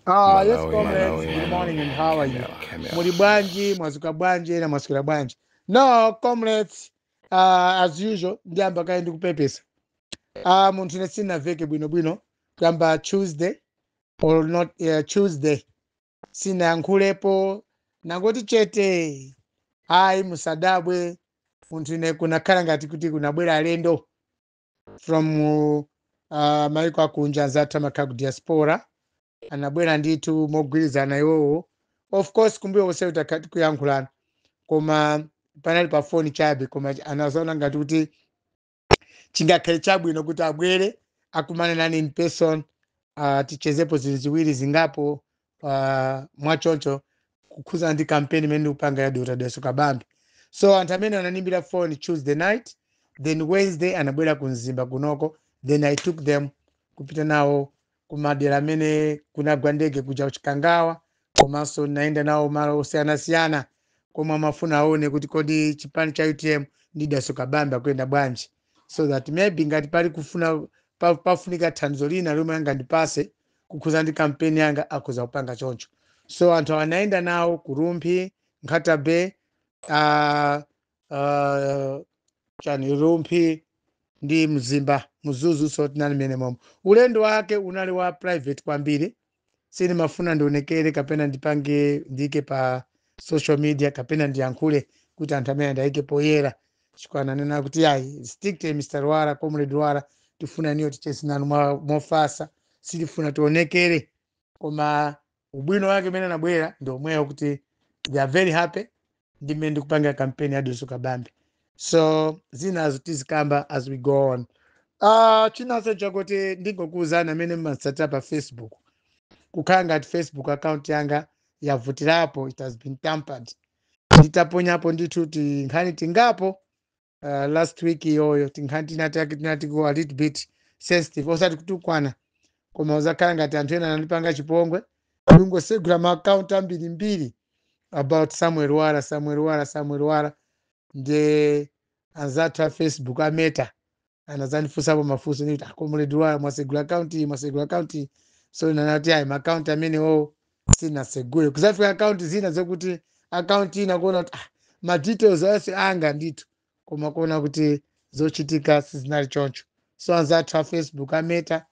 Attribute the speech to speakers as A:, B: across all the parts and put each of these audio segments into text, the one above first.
A: Ah, yes Malawi, comrades, Malawi, good morning and how are you? Malawi, Malawi. Muli bwanji, mwazuka bwanji, ena mwaswera bwanji. No, comrades, uh, as usual, ndiyamba kaye ndikupepesa. Ah, munthu ine sinaveke bwino bwino kuyamba Tuesday or not uh, Tuesday. Sinayankhulepo nangoti chete. Ayi musadabwe munthu ine kunakhala ngati kuti kunabwera alendo. from uh, maiko akunja anzathu amakhala ku diaspora anabwera ndithu mogwirizana iwowo of course kumbuyo konse takhala tikuyankhulana koma panali pa foni chabe koma anazaona ngati kuti chingakhale chabwino kuti abwere akumane nane in person uh, tichezepo zinthu ziwiri zingapo uh, mwachoncho kukhudzana ndi kampeni imene ndikupanga ya dr dalitso kabambe so anthu amene anandiimbira phone tuesday night then wednesday anabwera ku mzimba kunoko then i took them kupita nawo kumadera amene kunagwa ndege kuja kuchikangawa komanso ndinayenda nawo malo osiyanasiyana komwe amafuna aone kuti kodi chipani cha utm ndi dalitso kabambe akuyenda bwanji so that maybe ngati pali kufuna pa- pafunika thandizo lina lomwe angandipase kukhuza ndi kampeni yanga akhoza kupanga choncho so anthu awa anayenda nawo ku rumphi nkhata bay uh, uh, chani rumphi ndi mzimba mzuzu so tinali mmenemomo ulendo wake unali wa private kwambiri sindimafuna ndionekere kapena ndipange ndiike pa social media kapena ndiyankhule kuti anthu amenewa ndiwayike poyera chifukwa ananena kuti yayi strictly mr lwara comrade lwara tifuna inuyo ticheze nanu mwa- mofasa sitifuna tionekere koma ubwino wake umene anabwera ndi omwewo kuti they are very happy ndi mmene ndikupangira kampeni ya dalitso kabambe so zinazo tizikamba as we go on uh, chinanso chakuti ndingokuwuzani amene mmatsatira pa facebook kukhala ngati facebook account yanga yavutirapo it has been tampered nditaponyapo ndithu tinkhani tingapo uh, last week iyoyo tinkhani tinatake tinati go a little bit sensitive osati kutukwana koma kuzakhala ngati anthu ena anandipanga chipongwe ndikungosegula maakaunti ambirimbiri about samuel lwara samuel lwara samuel lwara nde anzathu a facebook a meta anazandifunsapo mafunso ndikuti a comrade lwara mwasegula akaunti mwasegula akaunti so ndinati ayi maakaunti amenewo sinasegule kuzafika akaunti zina zokuti akaunti ina kuona kuti ah, ma details onse anga ndithu koma kuona kuti zochitika sizinali choncho so anzathu a facebook a meta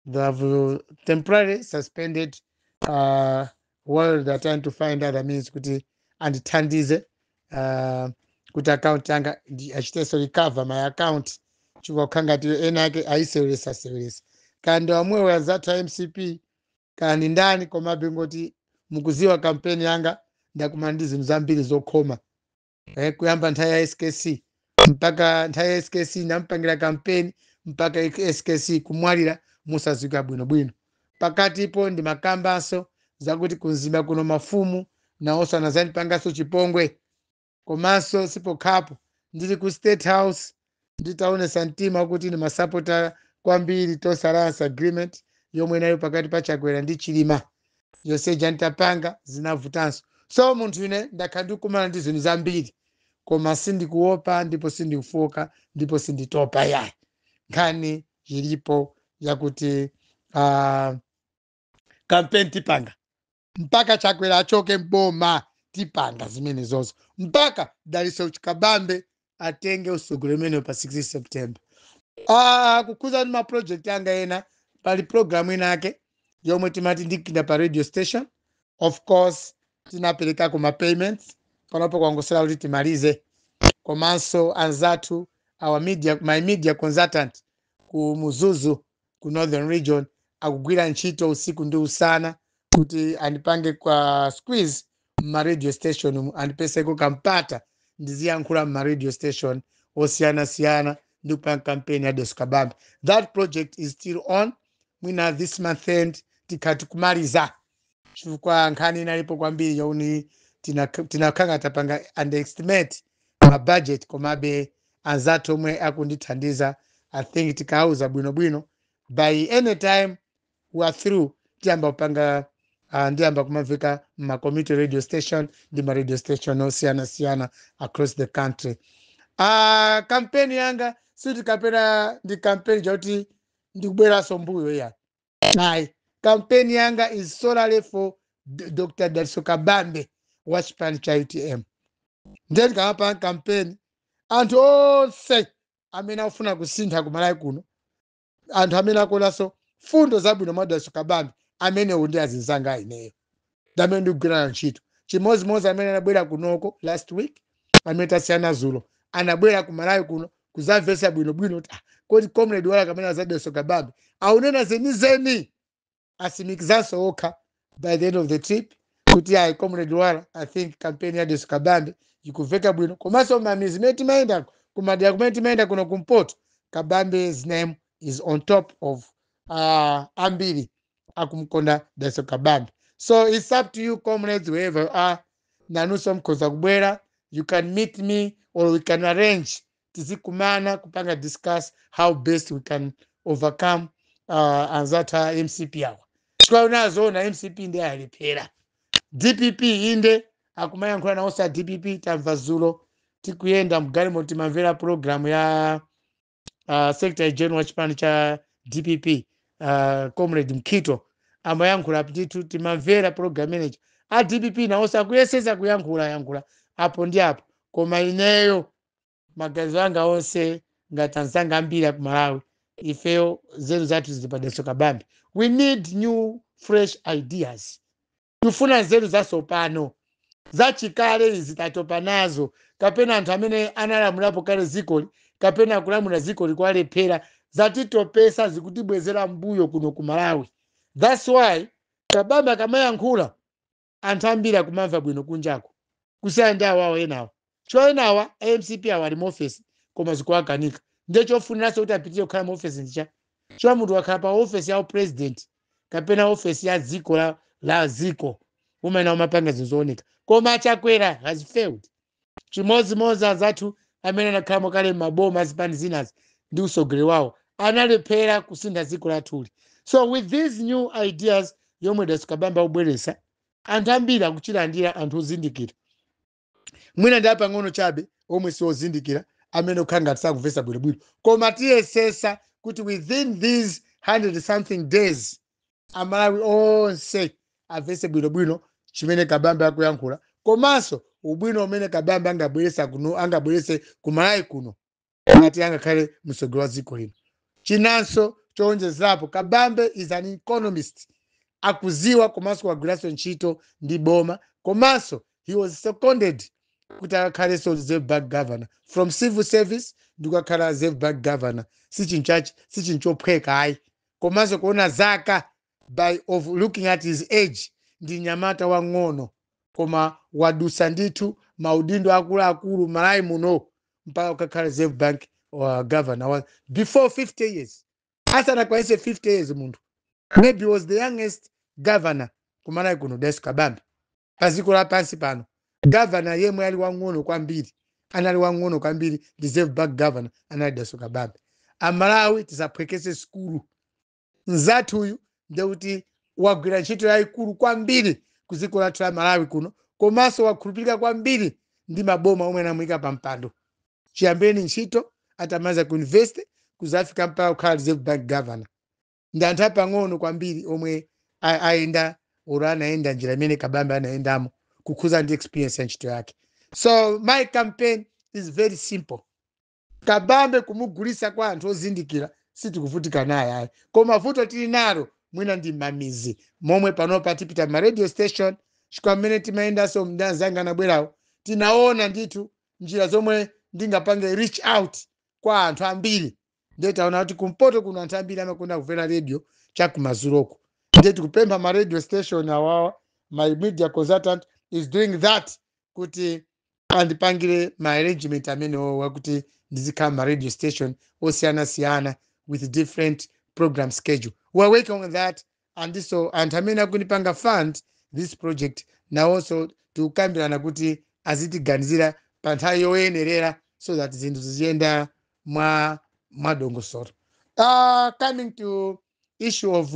A: They have uh, temporarily suspended uh, while they're trying to find other means kuti andithandize uh, kuti account yanga ndi- achitenso recover my account chifukwa chikukhala ngati ena ake ayiseweresa seweresa kaya ndi omwewo anzathu a mcp kaya ndi ndani komabe ngoti mukuziwa kampeni yanga ndakumana ndi zinthu zambiri zokhoma eh, kuyamba nthawi ya skc mpaka nthawi ya skc ndampangira kampeni mpaka skc kumwalira mosadziwika bwinobwino pakatipo ndimakambanso zakuti ku mzimba kuno mafumu nawonso anazandipanganso chipongwe komanso sipokhapo ndili ku state house nditaonesa mtima kuti ndimasapota kwambiri tonse alliance agreement yomwe inalipo pakati pa chakwera ndi chilima yonse ija nditapanga zinavutanso so munthu ine ndakhala ndikukumana ndi zinthu zambiri koma sindikuopa ndipo sindikufooka ndipo sinditopa yayi nkhani ilipo yakuti uh, kampeni tipanga mpaka chakwera achoke m'boma tipanga zimenezo mpaka dalitso kabambe atenge utsogoleri umenewo pa 6 september ah, kukhuza ndi maproject anga ena pali programu ina ake yomwe timati ndikuika pa radio station of course tinaperekako ma payments panopo kwangotsala kuti timalize komanso anzathu my media consultant ku mzuzu ku northern region akugwira ntchito usiku ndi usana kuti andipangeko squeeze mma radio station mu andipatseko kampata ndiziyankhula mma radio station osiyanasiyana ndi kupanga kampeni ya dalitso kabambe that project is still on mwina this month end tikhala tikumaliza chifukwa nkhani inalipo kwambiri yoti tinakhala tapanga underestimate ma budget komabe anzathu omwe akundithandiza i think tikawauza bwinobwino by any time we are through tiyamba kupanga uh, ndiyamba kumamveka mma community radio station ndi ma radio station osiyanasiyana across the country uh, kampeni yanga sikuti kapena ndi kampeni yakuti ndikubweranso mbuyo ya ayi kampeni yanga is solely for D- dr dalitso kabambe wa chipani cha utm ndiye ndikamapanga kampeni anthu onse amene akufuna kusintha kumalawi kuno anthu amene akuonanso mfundo zabwino mwa dalitso kabambe amenewo ndi anzanga ineyo ndi amene ndikugwirana ntchito chimodzimodzi amene anabwera kunoko last week amene tasiyana zulo anabwera ku malawi kuno kuzamvetsa bwinobwino kuti ah, kodi comrade wala kamene za Daliso Kabambe aunena zenizeni asimikizanso okha by the end of the trip kuti ayi comrade wala i think campaign ya Daliso Kabambe ikuveka bwino komanso mamizi imene timayendako kumadera kumene timayenda kuno kumpoto kabambe's name is on top of uh, ambiri akumkonda Daliso Kabambe so it's up to you comrades wherever you are nanunso mkhoza kubwera you can meet me or we can arrange tizikumana kupanga discuss how best we can overcome uh, anzathu a mcp awa chifukwa kunena zoona mcp nde yalephera dpp inde akumayankhula nawonso a dpp tamva zulo tikuyenda mgalimoto timamvera programu ya uh, secretary general wa chipani cha dpp uh, comrade mkhito amayankhula ndithu timamvera program ndiye a dpp nawonso akuyesesa kuyankhula yankhula apo ndi apo koma ineyo maganizo anga onse ngati anzanga ambiri aku malawi ifeyo zeru zathu zili pa Daliso Kabambe we need new fresh ideas tikufuna nzeru zatsopano zachikale izi tatopa nazo kapena anthu amene analamulapo kale dzikoli kapena kulamula dzikoli kwalephereka zatitopesa zikutibwezera mbuyo kuno ku malawi thats why kabambe akamayankhula anthu ambiri akumamva bwino kunjako kusiyana ndi awawo enawo Chonchi awa a mcp awa ali mu office koma zikuwakanika ndiye chofuniranso kuti apitirire kukhala mu office ndi chani? Chifukwa munthu ukakhala pa office ya u president kapena office ya dziko la dziko umayenera kumapanga zinthu zooneka koma a Chakwera has failed. Chimodzimodzi anzathu amene anakhalamo kale mmaboma a zipani zinazi ndi utsogoleri wawo analephera kusintha dziko lathuli so with these new ideas yomwe Daliso Kabambe akubweretsa anthu ambiri akuchilandira anthu ozindikira. mwina ndi apang'ono chabe omwe siozindikira amene akukhala ngati sakumvesa bwinobwino koma tiyesesa kuti within these 100 something days amalawi onse amvese bwinobwino chimene kabambe akuyankhula komanso ubwino umene kabambe angabwerese kumalawi kuno ngati angakhale mtsogoleri wa dziko lino chinanso chowonjezerapo kabambe is an economist akuziwa komanso wagwiranso ntchito ndi boma komanso he was seconded kuti akakhalenso reserve bank governor from civil service ndi kukakhala reserve bank governor si chinthu chachi si chinthu chophweka ayi komanso kuona zaka by of looking at his age ndi nyamata wang'ono koma wadutsa ndithu maudindo akuluakulu m'Malawi muno mpaka kukakhala reserve bank uh, governor wa before 50 years asanakwanise 50 years munthu maybe was the youngest governor kumalawi kuno Dalitso Kabambe pa dziko lapansi pano governor yemwe ali wang'ono kwambiri anali wang'ono kwambiri reserve bank governor anali das kabambi amalawi tisaphwekese sikulu mzathu uyu ndekuti wagwira ntchito yayikulu kwambiri ku dziko lathu la malawi kuno komanso wakhulupirika kwambiri ndi maboma omwe anamuyika pa mpando chiyambireni ntchito atamaliza ku university kuzafika mpaka kukhala reserve bank governor ndi anthu apang'ono kwambiri omwe a- ayenda olo anayenda njira imene kabambe anayendamo kukhuza ndi experience ya ntchito yake so my campaign is very simple Kabambe kumugulisa kwa anthu ozindikira sitikuvutika naye ayi koma vuto tili nalo mwina ndi mmamizi momwe panopa tipita mma radio station chifukwa mmene timayendaso ndi anzanga anabwerawa tinaona ndithu njira zomwe ndingapange reach out kwa anthu ambiri ndiye taona kuti kumpoto kuno anthu ambiri amakonda kumvera radio chakumazuloku ndiye tikupempha ma radio station awawa my media consultant is doing that kuti andipangire ma arrangement amenewowa kuti ndizikhala mma radio station osiyanasiyana with different program schedule we are working on that and so anthu amene akundipanga fund this project nawonso tikukambirana kuti azitiganizira pa nthawi yoyenerera so that zinthu ziziyenda mwadongosolo uh, coming to issue of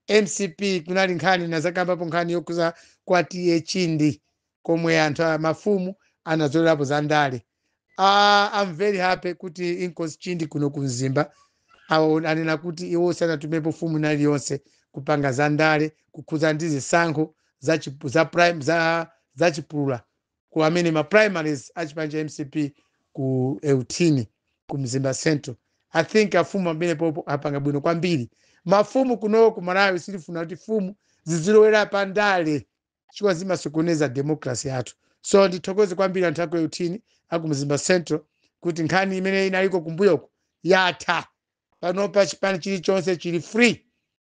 A: mcp kunali nkhani ndinadzakambapo nkhani yokhuza kwa TA chindi komwe anthu a mafumu anazolerapo za ndale Ah, I'm very happy kuti inkosi chindi kuno ku mzimba awo anena kuti iwo sanatumepo fumu ina iliyonse kupanga za ndale kukhuza ndi zisankho za, chipu- za, prime, za, za chipulura ku amene ma primaries a chipani cha mcp ku eutini ku mzimba central i think afumu amenewo apo apanga bwino kwambiri mafumu kuno ku malawi sitifuna kuti fumu zizilowera pa ndale chifukwa zimasokoneza democracy yathu so ndithokoze kwambiri anthu aku euthini aku mzimba central kuti nkhani imene inaliko kumbuyoko yatha panopa chipani chilichonse chili free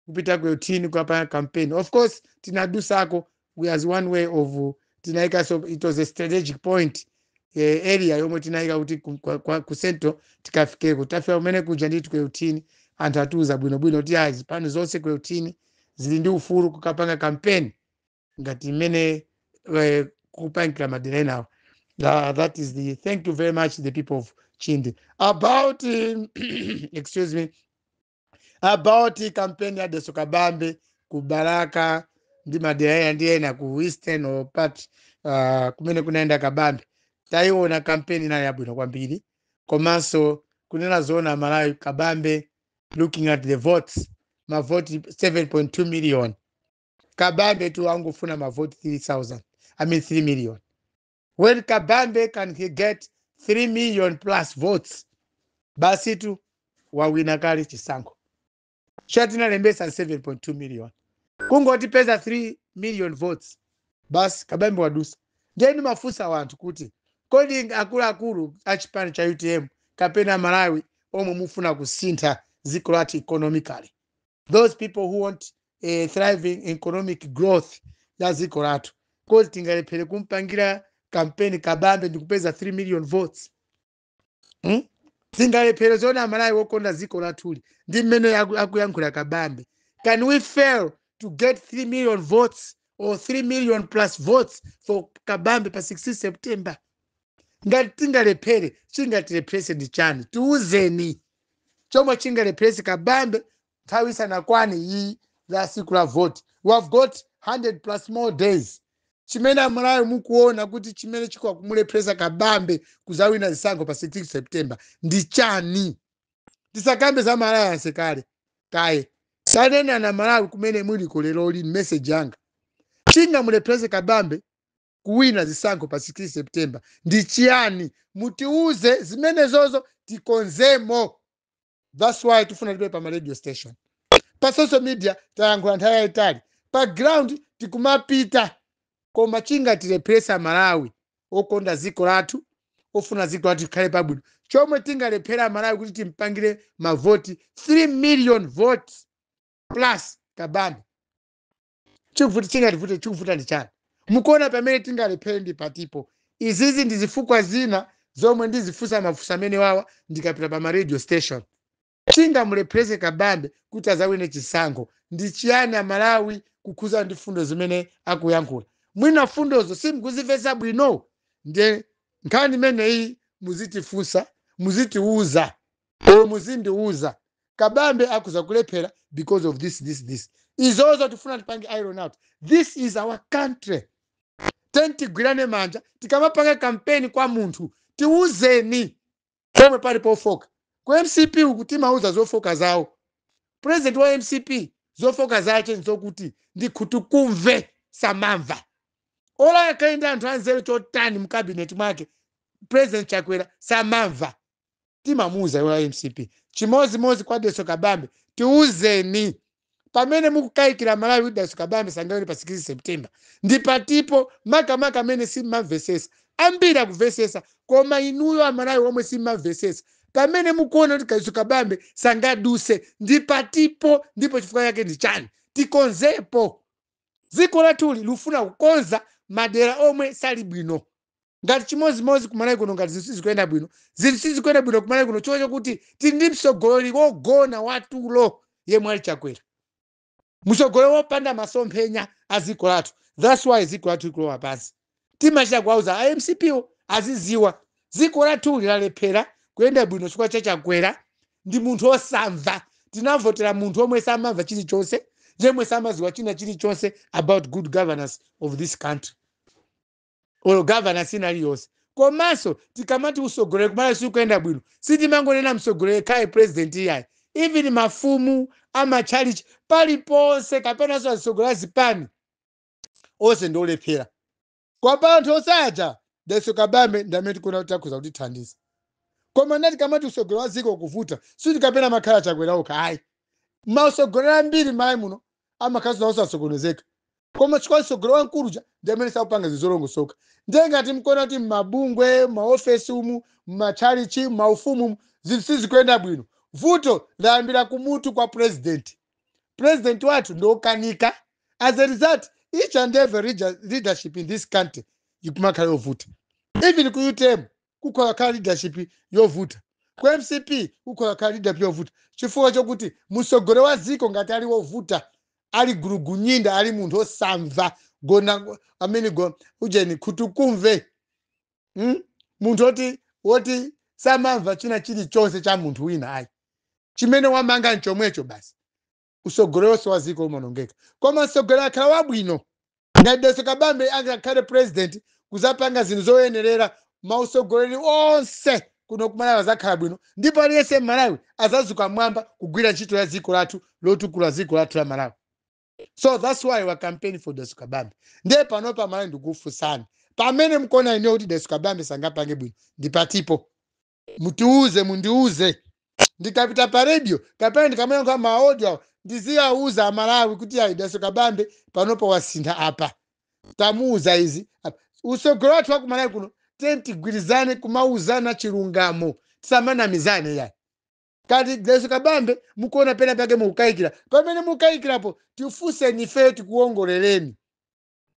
A: kupita ku euthini kukapanga campaign of course tinadusako we as one way of tinaika so it was a strategic point eh, area yomwe tinaika kuti ku- kwa- kwa- ku central tikafikeko tafika kumene kuja ndithu ku euthini anthu atiuza bwinobwino kuti ayi zipani zonse ku euthini zili ndi ufulu kukapanga campaign ngati mmene eh, akupangira madera enawo Tha- that is the thank you very much the people of chindi about um, excuse me about campaign ya Dalitso kabambe ku Balaka ndi madera ena ndi ena ku eastern part uh, kumene kunayenda kabambe tayiona kampeni inali yabwino kwambiri komanso kunena zoona amalawi kabambe looking at the votes mavoti 7.2 million kabambe tu angofuna mavoti 3000 i mean 3 million when kabambe can he get 3 million plus votes basi tu wawina kale chisankho cha tinalembesa 7.2 million kungotipeza 3 million votes basi kabambe wadusa nde ndimafunsa wanthu kuti kodi akuluakulu a chipani cha utm kapena amalawi omwe mufuna kusintha dziko lathu economically those people who want a thriving economic growth ya dziko lathu kodi tingalephere kumpangira kampeni kabambe ndi kupeza 3 million votes hmm? tingalephere zoona amalawi wokonda dziko lathu lino ndi mmene aku- akuyankhula kabambe can we fail to get 3 million votes or 3 million plus votes for kabambe pa 16 september ngati tingalephere chingatilepherese ndi chani tiuzeni chomwe chingalepherese kabambe nthawi isanakwane iyi la siku la voti we have got 100 plus more days chimene amalawi mukuona kuti chimene chikakumulepheresa kabambe kuzawina zisankho pa 16 september ndi chani tisakambe za amalawi anse kale kaye tanenani amalawi kumene muliko lero lino meseji yanga chingamulepherese kabambe kuwina zisankho pa 16 september ndi chiyani mutiuze zimenezozo tikonzemo thats why tifuna tipite pa ma radio station pa social media tayankhula nthawi yayitali pa ground tikumapita koma chingatilepherese amalawi okonda dziko lathu ofuna dziko lathu likhale pabwino chomwe tingalephere amalawi kuti timpangire mavoti 3 million votes plus kabambe chikuvuta chingativute chikuvuta ndi chani mukuona pamene tingalephere ndi patipo izizi ndi zifukwa zina zomwe ndizifunsa mafunso amenewawa ndikapita pa ma radio station chingamulepherese kabambe kuti azawine chisankho ndi chiyani amalawi kukhuza ndi mfundo zimene akuyankhula mwina mfundozo simukuzimvetsa bwino ndiye nkhani imeneyi muzitifunsa muzitiuza or muzindiuza kabambe akhoza kulephera because of this this this izozo tifuna tipange iron out this is our country tiyeni tigwirane manja tikamapanga kampeni kwa munthu tiuzeni pomwe pali pofoka ku mcp uku timauza zofoka zawo president wa mcp zofoka zake nzokuti ndi nkhutukumve samamva olo akhale ndi anthu anzeru chotani mukabineti mwake president chakwera samamva timamuuza iwo a mcp chimodzimodzi kwa daso kabambe tiuzeni pamene mukukayikira malawi kuti daso kabambe sangawine pa 16 september ndi patipo makamaka amene simmamvesesa ambiri akumvesesa koma inuyo amalawi omwe simmamvesesa pamene mukuona kuti daso kabambe sangaduse ndi patipo ndipo chifukwa chake ndi chani tikonzepo dziko lathuli likufuna kukonza madera omwe sali bwino ngati chimodzimodzi kumalawi kuno ngati zinthu sizikuyenda bwino zinthu sizikuyenda bwino kumalawi kuno chifukwa chokuti tili ndi mtsogoleri wogona watulo yemwe ali chakwera mtsogoleri wopanda masomphenya a dziko lathu thats why dziko lathu likulowa pansi timachita kuwauza a mcpo aziziwa dziko lathu lalephera kuyenda bwino chifukwa cha chakwera ndi munthu osamva tinavotera munthu yemwe samamva chilichonse yemwe samaziwa china chilichonse about good governance of this country olo governance ina iliyonse komanso tikamati usogoleri kumalawi sikuyenda bwino sitimangonena msogoleri yekhayo president iyayi even mafumu amatchalichi paliponse kapenanso azisogoleri azipani onse ndi olephera kwa pa anthu onse aja daso kabambe ndi amene tikuona kuti akhoza kutithandiza koma ndati tikamati usogoleri wa dziko kuvuta sikuti kapena amakhala chakwera okha ayi mausogoleri ambiri m'malawi muno amakhalanso nawo sasokonezeka koma chifukwa mtsogoleri wamkulu uja ndi amene sakupanga zinthu zolongosoka ndiye ngati mkuona kuti m'mabungwe maofesi umu m'matchalichi maufumu umu zinthu sizikuyenda bwino vuto layambira kumutu kwa purezidenti purezidenti wathu ndi okanika as a result each and every leader- leadership in this country ikumakhala yovuta even ku utm kukhoza kukhala leadership yovuta. Ku mcp kukhoza kukhala leadership yovuta chifukwa chokuti mutsogoleri wa dziko ngati ali wovuta, ali gulugunyinda, ali munthu osamva, gona amene go ujeni khutukumve mm? munthu oti woti samamva china chilichonse cha munthu wina ayi chimene wamanga nchomwecho basi usogoleronso wa ziko umaonongeka koma msogoleri akhala wabwino ngati daso kabambe angakhale president kuzapanga zinthu zoyenerera mausogoleri onse kuno kumalawi azakhala bwino ndipo aliyense mmalawi azazuka mwamba kugwira ntchito ya ziko lathu lotukula ziko lathu la malawi so that's why we are campaigning for daso kabambe ndiye panopa amalawi ndikufunsani pamene mkuona inuyo kuti daso kabambe sangapange bwino ndipatipo mutiuze mundiuze ndikapita pa radio kapena ndikamayankha maaudio awa ndiziwauza amalawi kuti ayi daso kabambe panopa wasintha apa tamuuza izi apa. usogoleri wathu wa kumalawi kuno tiyeni tigwirizane kumauzana chilungamo tisamanamizane iyayi ngati daso kabambe mukuona pena pake mukukayikira pamene mukukayikirapo tifunseni ifeyo tikuwongoleleni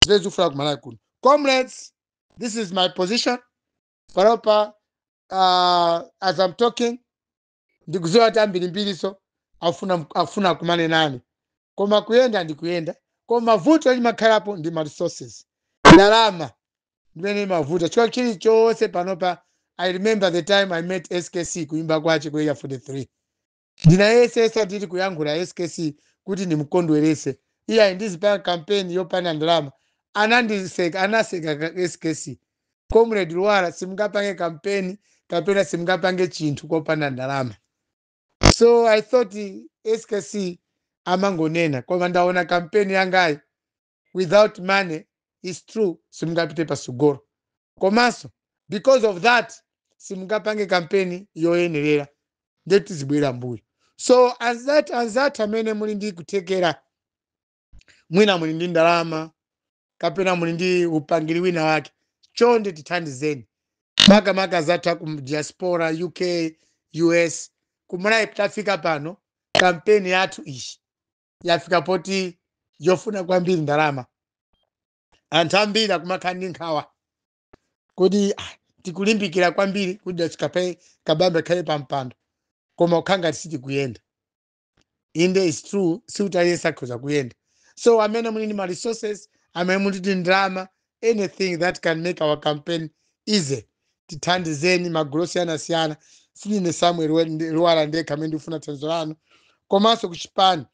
A: zimene zikufunika kumalawi kuno comrades this is my position panopa uh, as I'm talking ndikuziwa kuti ambirimbiriso akufuna akumane nane koma kuyenda ndikuyenda koma vuto limakhalapo ndi ma resources ndalama ndimene imavuta chifukwa chilichonse panopa i remember the time i met skc kuimba kwache ku area 43 Ndinayesetsa tili kuyankhula skc kuti ndimukondweretse, iyayi ndizipanga campaign yopanda ndalama, anandiseka, anaseka skc, Comrade Lwara simungapange campaign kapena simungapange chinthu kopanda ndalama. So I thought skc amangonena koma ndaona campaign yangayi without money its true simungapite pasogolo komanso because of that simungapange kampeni yoyenerera nde tizibwera mbuyo so anzat- anzathu amene muli ndi kuthekera mwina muli ndi ndalama kapena muli ndi upangiri wina wake chonde tithandizeni makamaka anzathu aku diaspora uk us kumulayi tafika pano kampeni yathu iyi yafika poti yofuna kwambiri ndalama anthu ambiri akumakhala ndi nkhawa kodi ah, tikulimbikira kwambiri kuti dalitso kabambe akhale pa mpando koma kukhala ngati sitikuyenda inde is true sikuti aliyense akhoza kuyenda so amene muli ndi ma resources amene muli ndi ndalama anything that can make our campaign easy tithandizeni magulu osiyanasiyana sinine samuel lwara ndekha amene ndikufuna thandizo lanu komanso ku chipani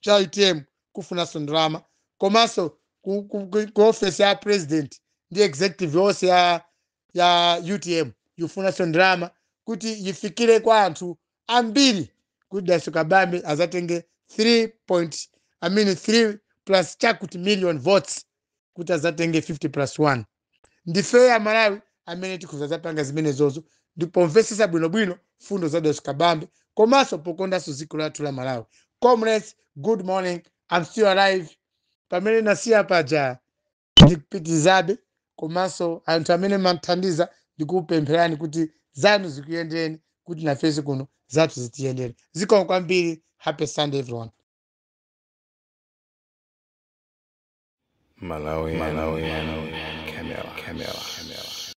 A: cha utm kufunanso ndalama komanso ku, ku, ku, ku office ya president ndi executive yonse ya, ya utm yufunanso ndalama kuti yifikire kwa anthu ambiri kuti dalitso kabambe azatenge 3 point i mean 3 plus chakuti million votes kuti azatenge 50 plus 1 ndifeyo amalawi amene tikhoza zapanga zimenezozo ndi pomvesesa bwinobwino fundo za dalitso kabambe komanso pokondanso dziko lathu la malawi comrades good morning i'm still alive pamene nasiya paja ndikupitirizabe komanso anthu amene mumandithandiza ndikupempherani kuti zanu zikuyendereni kuti nafenso kuno zathu zitiyendere zikomo kwambiri happy sunday
B: everyone Malawi, Malawi, Malawi, Camera, Camera, Camera.